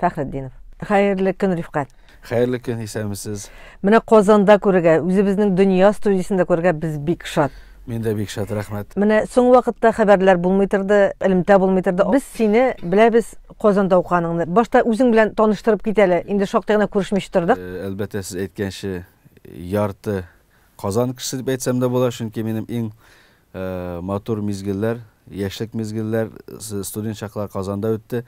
Фәхретдинов. Хәерле көн, Рифкат. Хәерле көн, исәнмесез. Менә Казанда күрергә, үзебезнең дөнья студиясендә күрергә без бик шат. Мин дә бик шат, рәхмәт. Менә соң вакытта хәбәрләр булмый торды, элемтә булмый торды. Без сине беләбез Казанда уканыңны. Башта үзең белән таныштырып кит әле. Инде шактый гына күрешмичә тордык. Э, әлбәттә, сез әйткәнчә, ярты Казан кешесе дип әйтсәм дә була, чөнки минем иң Матур мизгелләр, яшьлек мизгелләр, студент чаклар Казанда үтте.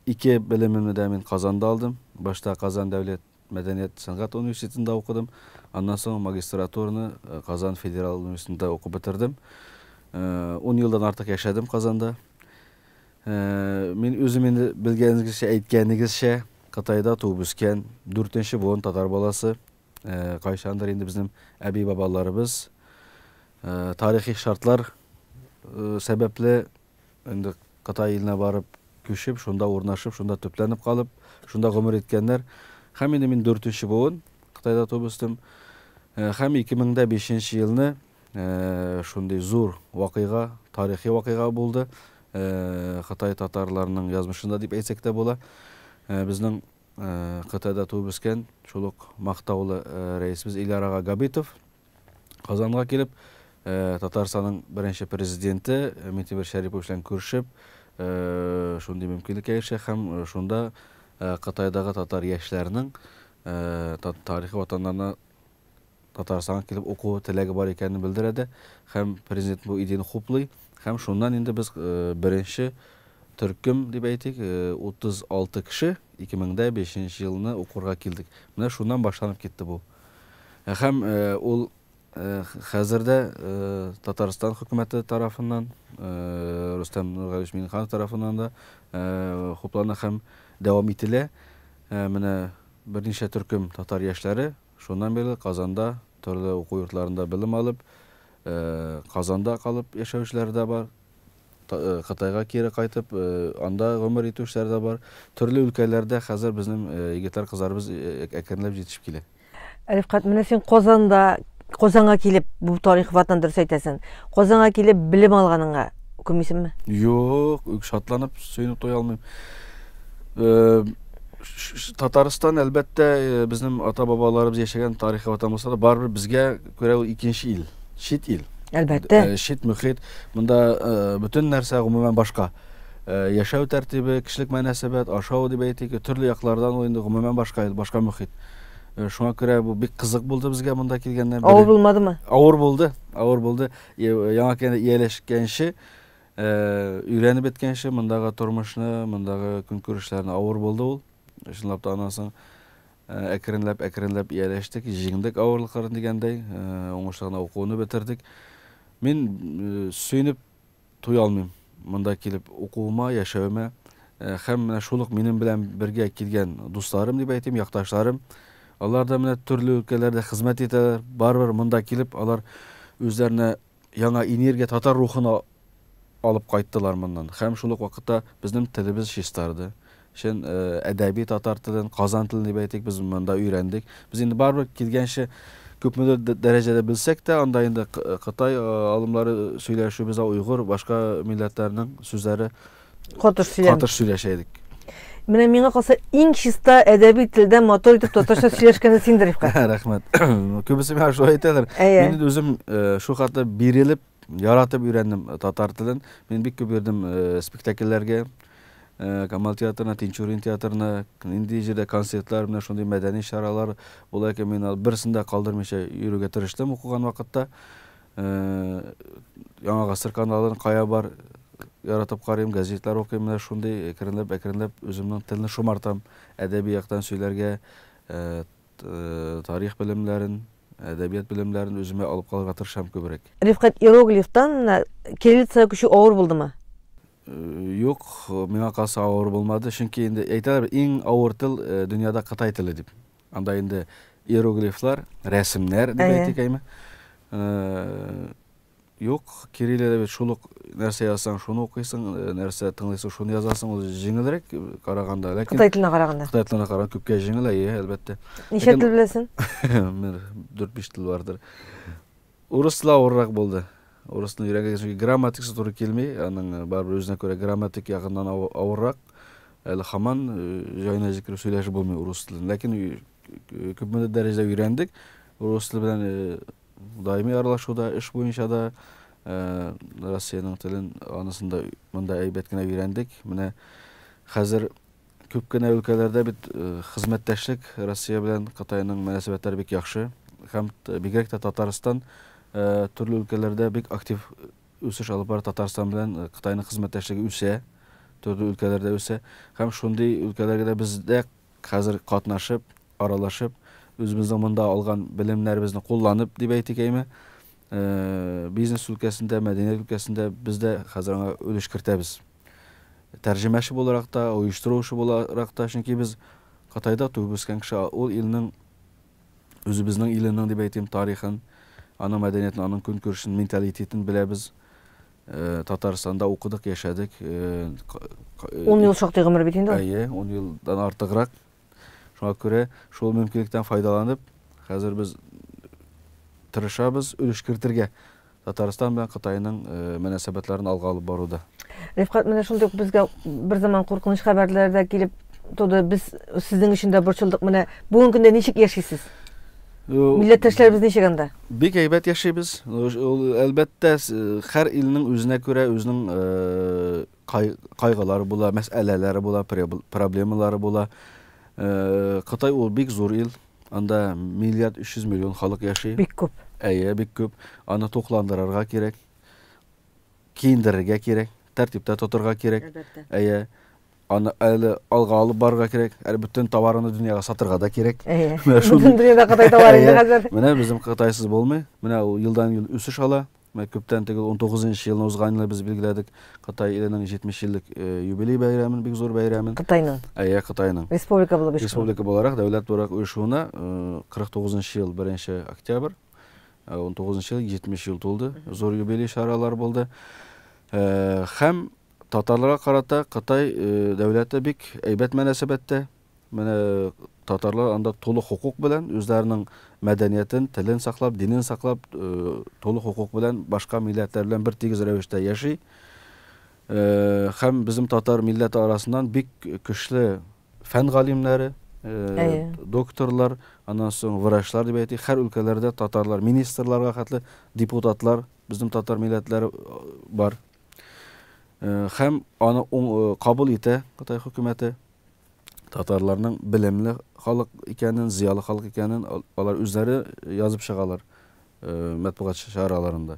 Ике белемемне дә мин Казанда алдым. Башта Казан дәүләт мәдәният, сәнгать университетында укыдым. Аннан соң магистратураны Казан федераль университетында укып бетердем. Ун елдан артык яшәдем Казанда. Мин үзем инде белгәнегезчә, әйткәнегезчә, Кытайда туып үскән, дүртенче буын татар баласы. Кайчандыр инде безнең әби-бабаларыбыз тарихи шартлар сәбәпле инде Кытай иленә барып күчеп, шунда урнашып, шунда төпләнеп калып, шунда гомер иткәннәр. Һәм инде мин дүртенче буын Кытайда туып үстем. Һәм 2005 елны шундый зур вакыйга, тарихи вакыйга булды. Кытай татарларының язмышында дип әйтсәк тә була. Безнең Кытайда туып үскән, шул ук мактаулы Рәисебез Илияр ага Габитов Казанга килеп, Татарстанның беренче Президенты Минтимер Шәрипович белән күрешеп, шундый мөмкинлеккә ирешә һәм шунда Кытайдагы татар яшьләренең тарихи ватаннарына Татарстанга килеп уку теләге бар икәнен белдерә дә һәм Президент бу идеяне хуплый һәм шуннан инде без беренче төркем дип әйтик, 36 кеше 2005 нче елны укырга килдек. Менә шуннан башланып китте бу. Һәм ул хәзер дә Татарстан хөкүмәте тарафыннан, Рөстәм Нургалиевич Миңнеханов тарафыннан да хуплана һәм дәвам ителә. Менә берничә төркем татар яшьләре Шуннан бирле Казанда, төрле уку йортларында белем алып, Казанда калып яшәүчеләр дә бар, Кытайга кире кайтып, анда гомер итүчеләр дә бар. Төрле өлкәләрдә хәзер безнең егетләр-кызларыбыз әкренләп җитешеп килә. Рифкать, менә син Казанда, Казанга килеп, бу тарихи ватан, дөрес әйтәсең, Казанга килеп белем алганыңа үкенмисеңме? Юк, шатланып, сөенеп туя алмыйм. Татарстан әлбәттә э, безнең ата бабаларыбыз яшәгән тарихи ватан булса да барыбер безгә күрә ул икенче ил, чит ил. Әлбәттә. Э, чит мөхит, монда э, бөтен нәрсә гомумән башка. Э, яшәү тәртибе, кешелек мөнәсәбәт, ашау дип әйтик, төрле яклардан ул инде гомумән башка ил, башка мөхит. Э, Шуңа күрә бу бик кызык булды безгә монда килгәннән. Авыр булмадымы? Авыр булды, авыр булды. Яңа кенә ияләшкәнче Ә өйрәнеп беткәнче мондагы тормышны, мондагы көнкүрешләрне авыр булды ул. Чынлап та аннан соң ә, әкренләп, әкренләп ияләштек, җиңдек авырлыкларын дигәндәй, ә, уңышлы гына укуны бетердек. Мин э, сөенеп туя алмыйм монда килеп укуыма, яшәвемә. Ә, Һәм менә шул ук минем белән бергә килгән дусларым дип әйтим, якташларым. Алар да менә төрле өлкәләрдә хезмәт итәләр. Барыбер монда килеп алар үзләренә Яңа энергия, татар рухын алып кайттылар моннан һәм шул ук вакытта безнең телебез чистарды. Чын әдәби татар телен, Казан телен дип әйтик, без монда өйрәндек. Без инде барыбер килгәнче күпмедер дәрәҗәдә белсәк тә, анда инде Кытай алымлары сөйләшү, без уйгыр, башка милләтләрнең сүзләре Катыш сөйләм. Катыш сөйләшә идек. Менә миңа калса иң чиста әдәби телдә мотор итеп татарча сөйләшкәне синдер, Ифка. Рәхмәт. Күбесе миңа шулай әйтәләр. Мин үзем шул хәтле бирелеп, яратып өйрәндем татар телен. Мин бик күп йөрдем спектакльләргә. Камал театрына, Тинчурин театрына, нинди җирдә концертлар, менә шундый мәдәни чаралар була икән, мин берсендә калдырмыйча йөрергә тырыштым укыган вакытта. Яңа гасыр каналын кая бар яратып карыйм, газетлар укыйм, менә шундый әкренләп-әкренләп үземнең телне шомартам, әдәби яктан сөйләргә, тарих белемнәрен, әдәбият белемнәрен үземә алып калырга тырышам күбрәк. Рифкать Иероглифтан кириллицага күчү авыр булдымы? Юк, миңа калса авыр булмады, чөнки инде әйтәләр бит, иң авыр тел дөньяда Кытай теле дип. Анда инде иероглифлар, рәсемнәр дип әйтик әйме. Юк, кириллида бит шул ук нәрсә язсаң, шуны укыйсың, нәрсә тыңлыйсың, шуны язасың, ул җиңелрәк караганда. Ләкин Кытай теленә караганда. Кытай теленә караганда күпкә җиңел, әйе, әлбәттә. Ничә тел беләсең? Мин 4-5 тел бардыр. Урыс ла авыррак булды. Урысны өйрәнгән чөнки грамматикасы туры килми, аның барыбер үзенә күрә грамматик ягыннан авыррак. Әле хаман җайына җиткереп сөйләшеп булмый урыс телен. Ләкин күпмедер дәрәҗәдә өйрәндек. Урыс теле белән даими аралашуда, эш буенча да Россиянең телен анысында монда әйбәт кенә өйрәндек. Менә хәзер Күп кенә өлкәләрдә бит хезмәттәшлек, Россия белән Кытайның мөнәсәбәтләре бик яхшы һәм бигрәк тә Татарстан төрле өлкәләрдә бик актив үсеш алып бара, Татарстан белән Кытайның хезмәттәшлеге үсә, төрле өлкәләрдә үсә һәм шундый өлкәләргә дә без дә хәзер катнашып, аралашып, үзебезнең монда алган белемнәребезне кулланып дип әйтик әйме, Бизнес өлкәсендә, мәдәният өлкәсендә без дә хәзер аңа өлеш кертәбез. Тәрҗемәче буларак та, оештыручы буларак та, чөнки без Кытайда туып үскән кеше, ул илнең, үзебезнең иленең дип әйтим, тарихын, аның мәдәниятен, аның көнкүрешен, менталитетын беләбез. Татарстанда укыдык, яшәдек. Ун ел шактый гомер бит инде ул. Әйе, ун елдан артыграк. Шуңа күрә шул мөмкинлектән файдаланып, хәзер без тырышабыз өлеш кертергә Татарстан белән Кытайның мөнәсәбәтләрен алга алып баруда. Рифкат, менә шундый ук безгә бер заман куркыныч хәбәрләр дә килеп туды. Без сезнең өчен дә борчылдык. Менә бүген көндә ничек яшисез? Милләттәшләребез ничек анда? Бик әйбәт яшибез. Ул әлбәттә һәр илнең үзенә күрә үзенең Кай, кайгылар була, мәсьәләләре була, проблемалары була. Э, Кытай ул бик зур ил. Анда миллиард 300 миллион халык яши. Бик күп. Әйе, бик күп. Аны тукландырырга кирәк. Киендерергә кирәк, тәртиптә тотырга кирәк. Әлбәттә. Әйе. Аны әле алга алып барырга кирәк. Әле бөтен товарны дөньяга сатырга да кирәк. Әйе. Бөтен дөньяда Кытай товары инде хәзер. Менә безнең Кытайсыз булмый. Менә ул елдан-ел үсеш ала. Менә күптән түгел, унтугыз нчы елны узган елны без билгеләдек Кытай иленең 70 еллык юбилей бәйрәмен, бик зур бәйрәмен. Кытайның? Әйе, Кытайның. Республика булып оешкан. Республика буларак, дәүләт буларак оешуына 49 нчы ел 1 октябрь, 19 нчы ел 70 ел тулды. Зур юбилей чаралары булды. Һәм татарларга карата Кытай дәүләте бик әйбәт мөнәсәбәттә. Менә татарлар анда тулы хокук белән, үзләренең мәдәниятен, телен саклап, динен саклап, тулы хокук белән башка милләтләр белән бер тигез рәвештә яши. Хәм безнең татар милләте арасыннан бик көчле фән галимнәре, докторлар, аннан соң врачлар дип әйтик, хәр өлкәләрдә татарлар, министрларга хәтле депутатлар безнең татар милләтләре бар. Хәм аны кабул итә Кытай хөкүмәте. татарларның белемле халык икәнен, зыялы халык икәнен алар үзләре язып чыгалар э, мәтбугат чараларында.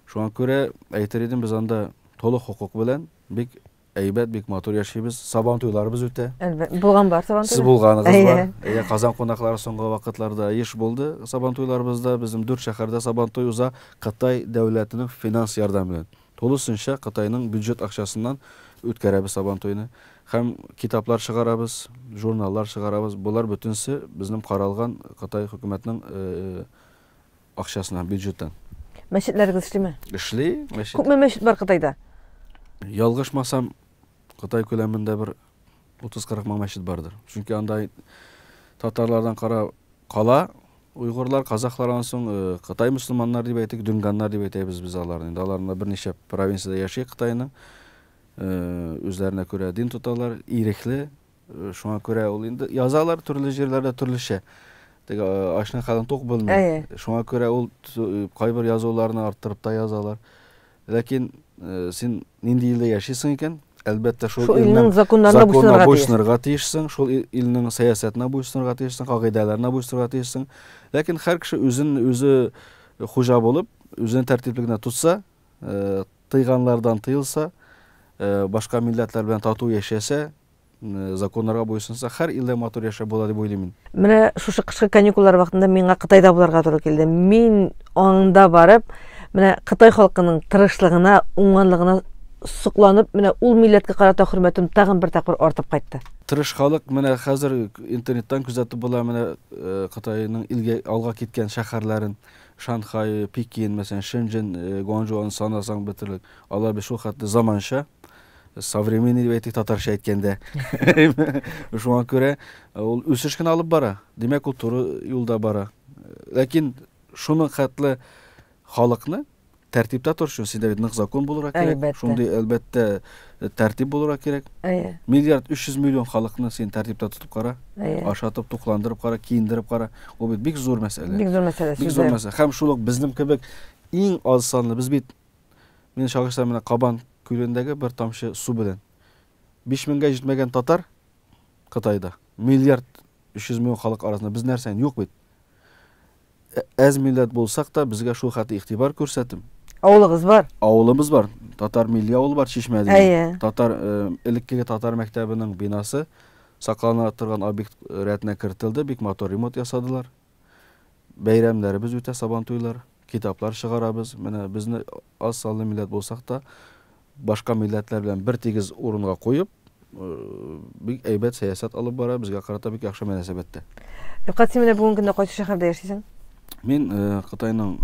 Шуңа күрә әйтер идем, без анда толык хокук белән бик әйбәт, бик матур яшибез. Сабан туйларыбыз үтә. Әлбәттә. Булган бар сабан туйлары. Сез булганыгыз бар. Әйе, Казан кунаклары соңгы вакытларда еш булды. Сабан туйларыбызда безнең дүрт шәһәрдә сабан туй уза Кытай дәүләтенең финанс ярдәме белән. Тулысынча Кытайның бюджет акчасыннан үткәрәбез Сабантуйны. Һәм китаплар чыгарабыз, журналлар чыгарабыз. Болар бөтенесе безнең каралган Кытай хөкүмәтнең акчасыннан, бюджеттан. Мәчетләрегез эшлиме? Эшли, мәчет. Күпме мәчет бар Кытайда? Ялгышмасам, Кытай күләмендә бер 30-40 мең мәчет бардыр. Чөнки анда татарлардан кара кала уйгырлар, казахлар аннан соң э, Кытай мөселманнар дип әйтик, дүнганнар дип әйтәбез без аларны. Инде аларында берничә провинцияда яши Кытайның. Э, үзләренә күрә дин тоталар, ирекле. Э, шуңа күрә ул инде язалар төрле җирләрдә төрлечә. Теге ачны калын тук белми. Шуңа күрә ул кайбер язуларны арттырып та язалар. Ләкин син нинди илдә яшисең икән? Әлбәттә, шул, шул илнең законнарына буйсынырга, буйсынырга тиешсең, шул илнең сәясәтенә буйсынырга тиешсең, кагыйдәләренә буйсынырга тиешсең. Ләкин һәр кеше үзен үзе хуҗа булып, үзен тәртипле генә тотса, тыйганлардан тыелса, башка милләтләр белән тату яшәсә, законнарга буйсынса, хәр илдә матур яшәп була дип уйлыйм мин. Менә шушы кышкы каникуллар вакытында миңа Кытайда булырга туры килде. Мин аңында барып, менә Кытай халкының тырышлыгына, уңганлыгына сокланып, менә ул милләткә карата хөрмәтем тагын бер тапкыр артып кайтты. Тырыш халык менә хәзер интернеттан күзәтеп була менә э, Кытайның илгә алга киткән шәһәрләрен, Шанхай, Пекин, мәсәлән, Шэньчжэнь, э, Гуанчжоуны санасаң бетерлек. Алар бит шул хәтле заманча. современный дип әйтик татарча әйткәндә шуңа күрә ул үсеш кенә алып бара димәк ул туры юлда бара ләкин шуның хәтле халыкны тәртиптә тору өчен синдә бит нык закон булырга кирәк шундый әлбәттә тәртип булырга кирәк миллиард өч йөз миллион халыкны син тәртиптә тотып кара ашатып тукландырып кара киендереп кара ул бит бик зур мәсьәлә бик зур мәсьәлә бик зур мәсьәлә һәм шул ук безнең кебек иң аз санлы без бит Мине чагыштырам менә Кабан күлендәге бер тамчы су белән. Биш меңгә җитмәгән татар Кытайда, миллиард өч йөз мең халык арасында без нәрсә, юк бит. Әз милләт булсак та, безгә шул хәтле игътибар күрсәтеп. Авылыгыз бар? Авылыбыз бар. Татар милли авылы бар Чишмә дигән. Әйе. Татар, элеккеге татар мәктәбенең бинасы саклана торган объект рәтенә кертелде, бик матур ремонт ясадылар. бәйрәмнәребез үтә, сабантуйлар, китаплар чыгарабыз. Менә безне аз санлы милләт булсак та, башка милләтләр белән бер тигез урынга куеп, бик әйбәт сәясәт алып бара, безгә карата бик яхшы мөнәсәбәттә. Рифкат, син менә бүгенге көндә кайсы шәһәрдә яшисең? Мин Кытайның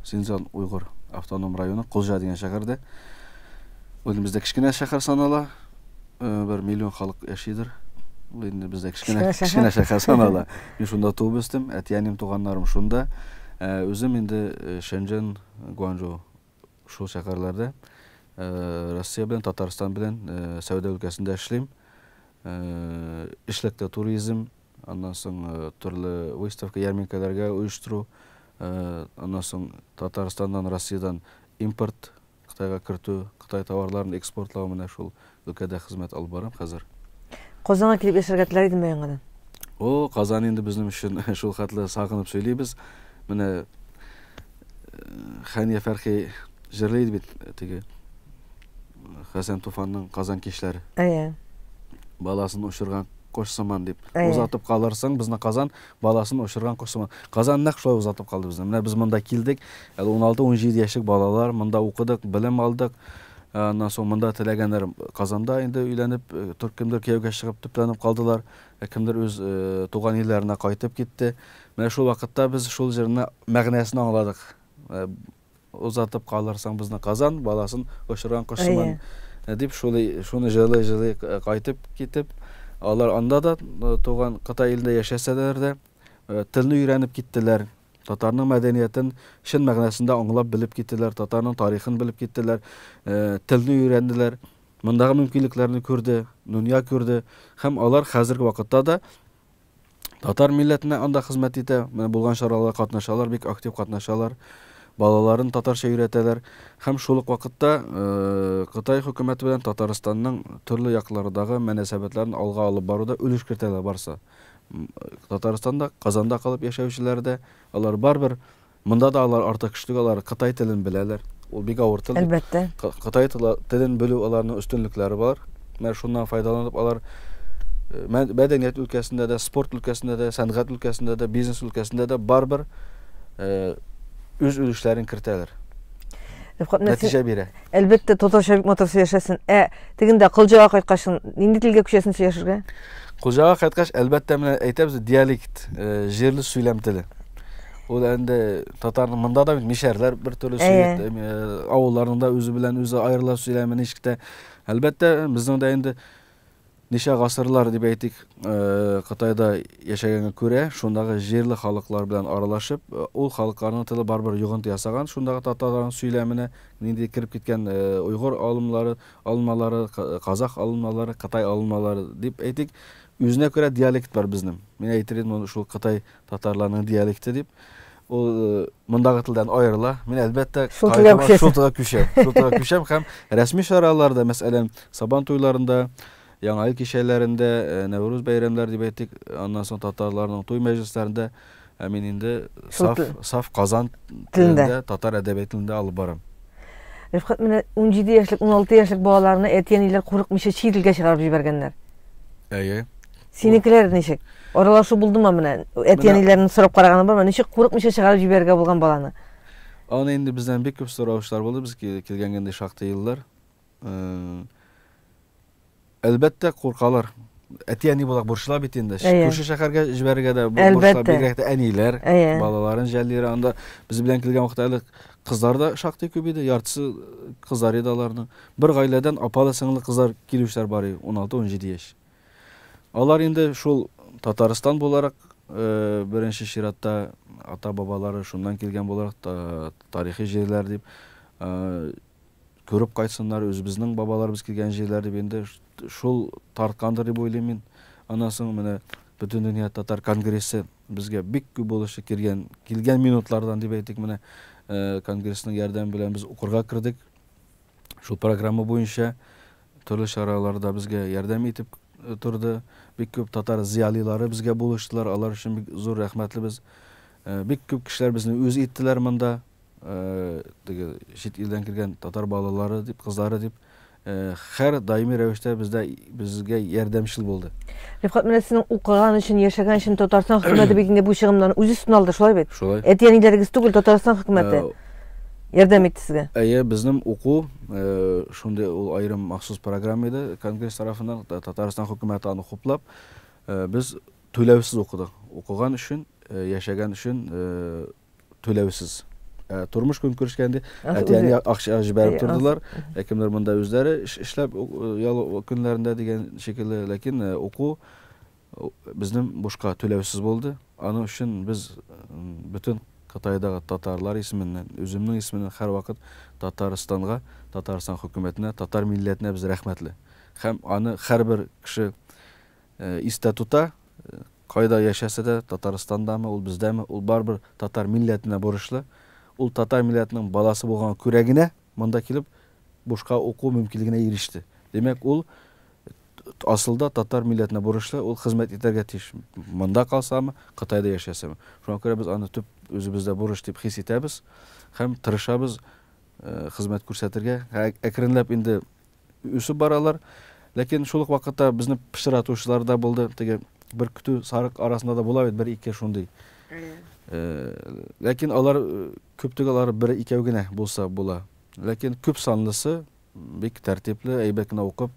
Синзан уйгыр автоном районы Кулжа дигән шәһәрдә. Үзебездә кечкенә шәһәр санала. бер миллион халык яшидер. Ул инде бездә кечкенә кечкенә шәһәр санала. Мин шунда туып үстем, әти-әним, туганнарым шунда. Э, үзем инде э, Шэньчжэн, Гуанчжоу шул шәһәрләрдә э, Россия белән Татарстан белән сәүдә өлкәсендә эшлим. Эшлектә туризм, аннан соң төрле выставка, ярминкәләргә оештыру, аннан соң Татарстаннан, Россиядән импорт Кытайга кертү, кытай товарларын экспортлау менә шул өлкәдә хезмәт алып барам хәзер. Казанга килеп яшәргә теләр идеңме яңадан? О, Казан инде безнең өчен шул хәтле сагынып сөйлибез. Менә Хәния Фәрхи җырлый иде бит теге Хәсән Туфанның Казан кичләре. Әйе. Баласын очырган кош сыман дип. Озатып калырсың безне Казан, Баласын очырган кош сыман. Казан нәкъ шулай озатып калды безне. Менә без монда килдек, әле уналты, унҗиде яшьлек балалар, монда укыдык, белем алдык. Аннан соң монда теләгәннәр Казанда инде өйләнеп, тор кемдер кияүгә чыгып, төпләнеп калдылар, ә кемдер үз туган илләренә кайтып китте. Менә шул вакытта без шул җырны мәгънәсен аңладык. Озатып калырсың безнең Казан баласын очырган кош сыман, дип шулай шуны җырлый-җырлый кайтып китеп, алар анда да туган Кытай илендә яшәсәләр дә, телне өйрәнеп киттеләр, татарның мәдәниятен чын мәгънәсендә аңлап белеп киттеләр, татарның тарихын белеп киттеләр, телне өйрәнделәр, мондагы мөмкинлекләрне күрде, дөнья күрде һәм алар хәзерге вакытта да Татар милләтенә анда хезмәт итә, менә булган чараларга катнашалар, бик актив катнашалар, балаларын татарча өйрәтәләр. Һәм шул ук вакытта Кытай хөкүмәте белән Татарстанның төрле яклардагы мөнәсәбәтләрен алга алып баруда өлеш кертәләр барсы. Татарстанда, Казанда калып яшәүчеләр дә, алар барбер Монда да алар артык кеше түгел, алар кытай телен беләләр. Ул бик авыр тел. Әлбәттә. Кытай телен белү аларның өстенлекләре булар. Менә шуннан файдаланып алар мәдәният өлкәсендә дә, спорт өлкәсендә дә, сәнгать өлкәсендә дә, бизнес өлкәсендә дә барбер үз өлешләрен кертәләр. Нәтиҗә бирә. Әлбәттә, татарча бик матур сөйләшәсең. Ә тегендә кылҗага кайткач, нинди телгә күчәсең сөйләшергә? Кылҗага кайткач, әлбәттә, менә әйтәбез, диалект, җирле сөйләм теле. Ул инде татарның монда да бит мишәрләр бер төрле сөйләп, авылларның да үзе белән үзе аерылып сөйләме ничек тә. Әлбәттә, безнең дә инде ничә гасырлар дип әйтик, Кытайда яшәгәнгә күрә, шундагы җирле халыклар белән аралашып, ул халыкларның теле барбер йогынты ясаган, шундагы татарларның сөйләменә нинди кереп киткән уйгыр алымлары, алынмалары, казах алынмалары, кытай алынмалары дип әйтик, үзенә күрә диалект бар безнең. Мин әйтер идем, шул Кытай Татарларның диалекты дип ул э, мондагы телдән аерыла. Мин әлбәттә шул телгә күчәм. Шул телгә күчәм. Шул телгә күчәм һәм рәсми чараларда, мәсәлән, Сабан туйларында, Яңа ел кичәләрендә, э, Нәүрүз бәйрәмнәре дип әйтик, аннан соң татарларның туй мәҗлесләрендә ә мин инде саф, саф Казан телендә, татар әдәбияты телендә алып барам. Рифкат менә 17 яшьлек, 16 яшьлек балаларны әти-әниләр курыкмыйча чит илгә чыгарып җибәргәннәр. Әйе. Синекеләр ничек? Аралашу булдымы менә? Әти-әниләрен сорап караганы бармы? Ничек курыкмыйча чыгарып җибәрергә булган баланы? Аны инде бездән бик күп сораучылар булды, без килгәнгә инде шактый еллар. Э, әлбәттә, куркалар. Әти-әни булак бурычлар бит инде. Күрше шәһәргә җибәрергә дә бурычлар, бигрәк тә әниләр, балаларын жәлләре. Анда без белән килгән вакытта әле кызлар да шактый күп иде, яртысы кызлар иде аларның. Бер гаиләдән апалы сеңле кызлар килүчеләр бар иде, 16-17 яшь. Алар инде шул Татарстан буларак, беренче чиратта, ата-бабалары шуннан килгән буларак, тарихи җирләр дип, күреп кайтсыннар, үзебезнең бабаларыбыз килгән җирләр дип инде шул тарткандыр дип уйлыйм мин. Аннан соң менә Бөтендөнья татар конгрессы безгә бик күп булышы килгән, килгән минутлардан дип әйтик, менә конгрессның ярдәме белән без укырга кердек. Шул программа буенча төрле чараларда безгә ярдәм итеп торды. Бик күп татар зыялилары безгә булыштылар. Алар өчен бик зур рәхмәтлебез. Бик күп кешеләр безне үз иттеләр монда. Теге чит илдән килгән татар балалары дип, кызлары дип хәр даими рәвештә бездә безгә ярдәмчел булды. Рифкат менә сезнең укыган өчен, яшәгән өчен Татарстан хөкүмәте бит инде бу чыгымнан үз өстенә алды, шулай бит? Шулай. Әти-әниләрегез түгел, Татарстан хөкүмәте. ярдәм итте сезгә? Әйе, безнең уку шундый ул аерым махсус программа иде Конгресс тарафыннан, Татарстан хөкүмәте аны хуплап, без түләүсез укыдык. Укыган өчен, яшәгән өчен түләүсез. Тормыш көнкүрешкәндә әти-әни акча җибәреп тордылар. Кемнәр монда үзләре эшләп ял көннәрендә дигән шикелле, ләкин уку Безнең бушка түләүсез булды. Аның өчен без бөтен Кытайдагы татарлар исеменнән, үземнең исеменнән һәрвакыт Татарстанга, Татарстан хөкүмәтенә, татар милләтенә без рәхмәтле. Һәм аны һәрбер кеше истә тота, кайда яшәсә дә, Татарстандамы, ул бездәме, ул барыбер татар милләтенә бурычлы. Ул татар милләтенең баласы булганга күрә генә, Монда килеп, бушка уку мөмкинлегенә иреште. Димәк, ул асылда татар милләтенә бурычлы, ул хезмәт итәргә тиеш. Монда калсамы, Кытайда яшәсәме. Шуңа күрә без аны төп үзебездә бурыч дип хис итәбез һәм тырышабыз хезмәт күрсәтергә. Әкренләп инде үсеп баралар. Ләкин шул ук вакытта безне пычратучылар да булды. Теге бер көтү сарык арасында да була бит бер-ике шундый. Ләкин алар күп түгел, алар бер-икәү генә булса була. Ләкин күп санлысы бик тәртипле, әйбәт кенә укып,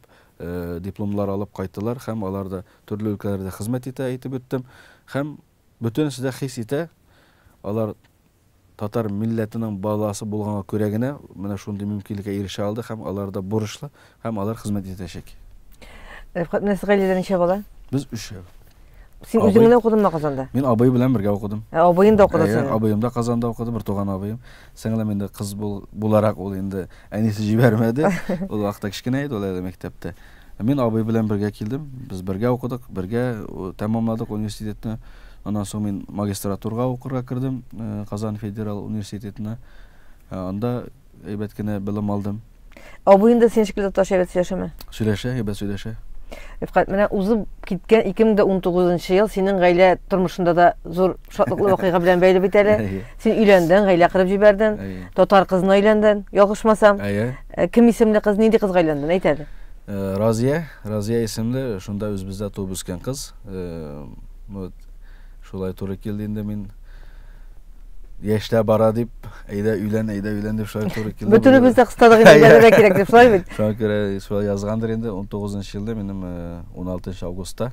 дипломлар алып кайттылар һәм алар да төрле өлкәләрдә хезмәт итә, әйтеп үттем. Һәм Бөтенесе дә хис итә, алар татар милләтенең баласы булганга күрә генә менә шундый мөмкинлеккә ирешә алды һәм алар да бурычлы һәм алар хезмәт итәчәк. Рифкат, менә сез гаиләдә ничә бала? Без өчәү. Син Абый... үзең генә укыдыңмы Казанда? Мин абый белән бергә укыдым. Ә абыең да укыды синең? Абыем да Казанда укыды, бер туган абыем. Сеңлем инде кыз бул, буларак ул инде әнисе җибәрмәде. Ул вакытта кечкенә иде, ул әле мәктәптә. Мин абый белән бергә килдем. Без бергә укыдык, бергә тәмамладык университетны. Аннан соң мин магистратурга укырга кердем Казан федерал университетына. Анда әйбәт кенә белем алдым. Абыең да синең шикелле татарча әйбәт сөйләшәме? Сөйләшә, әйбәт сөйләшә. Рифкать, менә узып киткән 2019 ел синең гаилә тормышында да зур Шатлыклы вакыйга белән бәйле бит әле. Син өйләндең, гаилә кырып җибәрдең. Татар кызына өйләндең, ялгышмасам. Әйе. Э, кем исемле кыз, нинди кызга өйләндең? Әйт әле. Э, Разия, Разия исемле, шунда үзебездә туып үскән кыз. Э, вот шулай туры килде инде мин яшьләр бара дип, әйдә өйлән, әйдә өйлән дип шулай туры килде. Бөтенебез дә кыстадык инде, бәләгә кирәк дип, шулай бит. Шуңа күрә шулай язгандыр инде. 19 елда минем 16 э, августта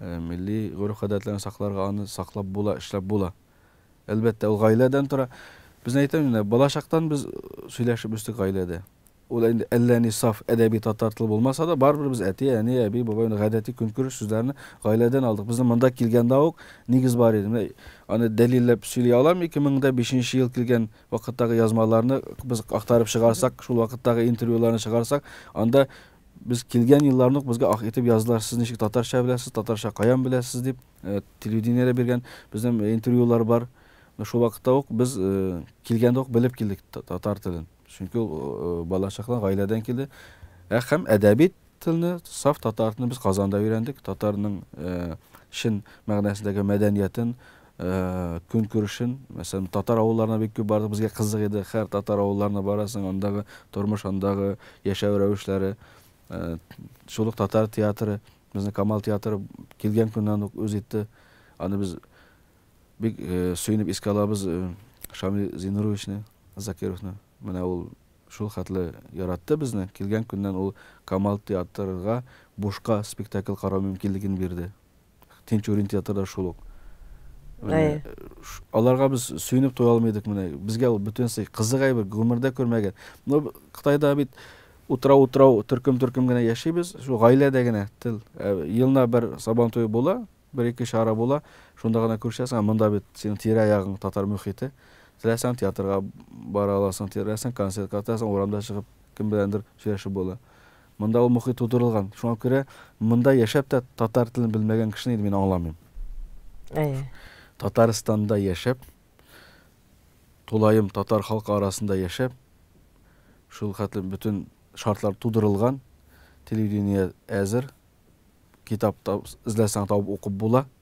Милли гореф-гадәтләрне сакларга, аны саклап була, эшләп була. Әлбәттә, ул гаиләдән тора. Безне әйтәм инде, балачактан без сөйләшеп үстек гаиләдә. Ул инде әллә ни саф әдәби татар теле булмаса да, барыбер без әти, әни, әби, бабай, аны гадәти көнкүреш сүзләрне гаиләдән алдык. Безнең монда килгәндә үк нигез бар иде. Менә аны дәлилләп сөйли алам, 2005 нче ел килгән вакыттагы язмаларны без актарып чыгарсак, шул вакыттагы интервьюларны чыгарсак, анда Без килгән елларны ук безгә ах итеп яздылар, сез ничек татарча беләсез, татарча каян беләсез дип. Телевидениедә биргән безнең интервьюлар бар. Менә шул вакытта ук без килгәндә ук белеп килдек татар телен. Чөнки ул балачактан, гаиләдән килде. Ә һәм әдәби телне, саф татар телен без Казанда өйрәндек. Татарның чын мәгънәсендәге мәдәниятен, көнкүрешен, мәсәлән, татар авылларына бик күп бардык, безгә кызык иде, хәр татар авылларына барасың, андагы тормыш, андагы яшәү рәвешләре. Шул ук татар театры, безнең Камал театры килгән көннән үк үз итте. Аны без бик сөенеп искә алабыз Шамил Зинуровичны, Закировны. Менә ул шул хәтле яратты безне, килгән көннән ул Камал театрга бушка спектакль карау мөмкинлеген бирде. Тинчурин театры да шул ук. Менә Әйе. ш- аларга без сөенеп туя алмыйдык менә. Безгә ул бөтенесе кызык әйбер, гомердә күрмәгән. Ну, б- Кытайда бит утрау-утрау, төркем-төркем генә яшибез. Шул гаиләдә генә тел. Ә елна бер Сабан туе була, бер-ике чара була, шунда гына күрешәсең. Ә монда бит синең тирә-ягың татар мөхите. Теләсәң театрга бара аласың, теләсәң концертка, теләсәң урамда чыгып кем беләндер сөйләшеп була. Монда ул мохит тудырылган, шуңа күрә монда яшәп тә татар телен белмәгән кешене инде мин аңламыйм. Әйе. Татарстанда яшәп, тулаем татар халкы арасында яшәп, шул хәтле бөтен шартлар тудырылган, телевидение әзер, китап эзләсәң табып укып була.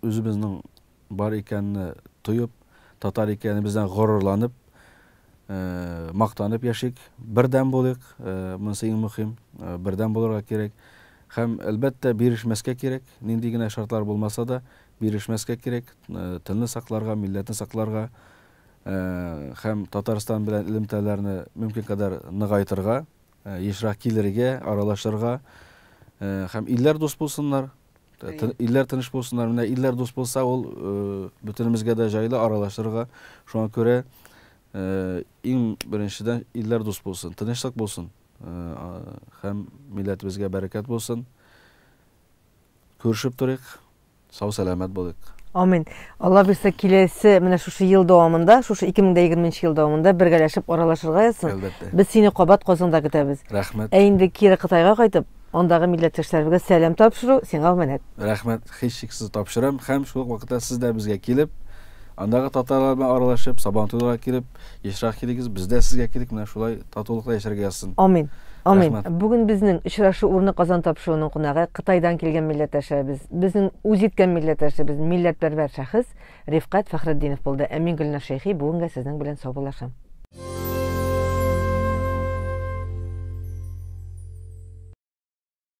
Үзебезнең бар икәнне тоеп, татар икәнебездән горурланып, мактанып яшик, бердәм булыйк, монысы иң мөһим, бердәм булырга кирәк. Һәм, әлбәттә, бирешмәскә кирәк, нинди генә шартлар булмаса да, бирешмәскә кирәк, телне сакларга, милләтне сакларга һәм Татарстан белән элемтәләрне мөмкин кадәр ныгайтырга. ешрак килергә, аралашырга һәм илләр дус булсыннар, илләр тыныч булсыннар. Менә илләр дус булса, ул бөтенебезгә дә җайлы аралашырга. Шуңа күрә иң беренчедән илләр дус булсын, тынычлык булсын һәм милләтебезгә бәрәкәт булсын. Күрешеп торыйк. Сау сәламәт булыйк. Амин. Алла бирсә киләсе менә шушы ел дәвамында, шушы 2020 ел дәвамында бергәләшеп аралашырга язсын. Әлбәттә. Без сине кабат Казанда көтәбез. Рәхмәт. Ә инде кире Кытайга кайтып, андагы милләттәшләребезгә сәлам тапшыру сиңа үмәнәт. Рәхмәт, һичшиксез тапшырам һәм шул ук вакытта сез дә безгә килеп, Андагы татарлар белән аралашып, Сабантуйларга килеп, ешрак килегез, без дә сезгә килик, менә шулай татулыкта яшәргә язсын. Амин. Амин. Рәхмәт. Бүген безнең очрашу урыны Казан тапшыруының кунагы, Кытайдан килгән милләттәшебез, безнең үзиткән милләттәшебез, милләтпәрвәр шәхес Рифкать Фәхретдинов булды. Ә мин, Гөлнар Шәйхи, бүгенгә сезнең белән саубуллашам.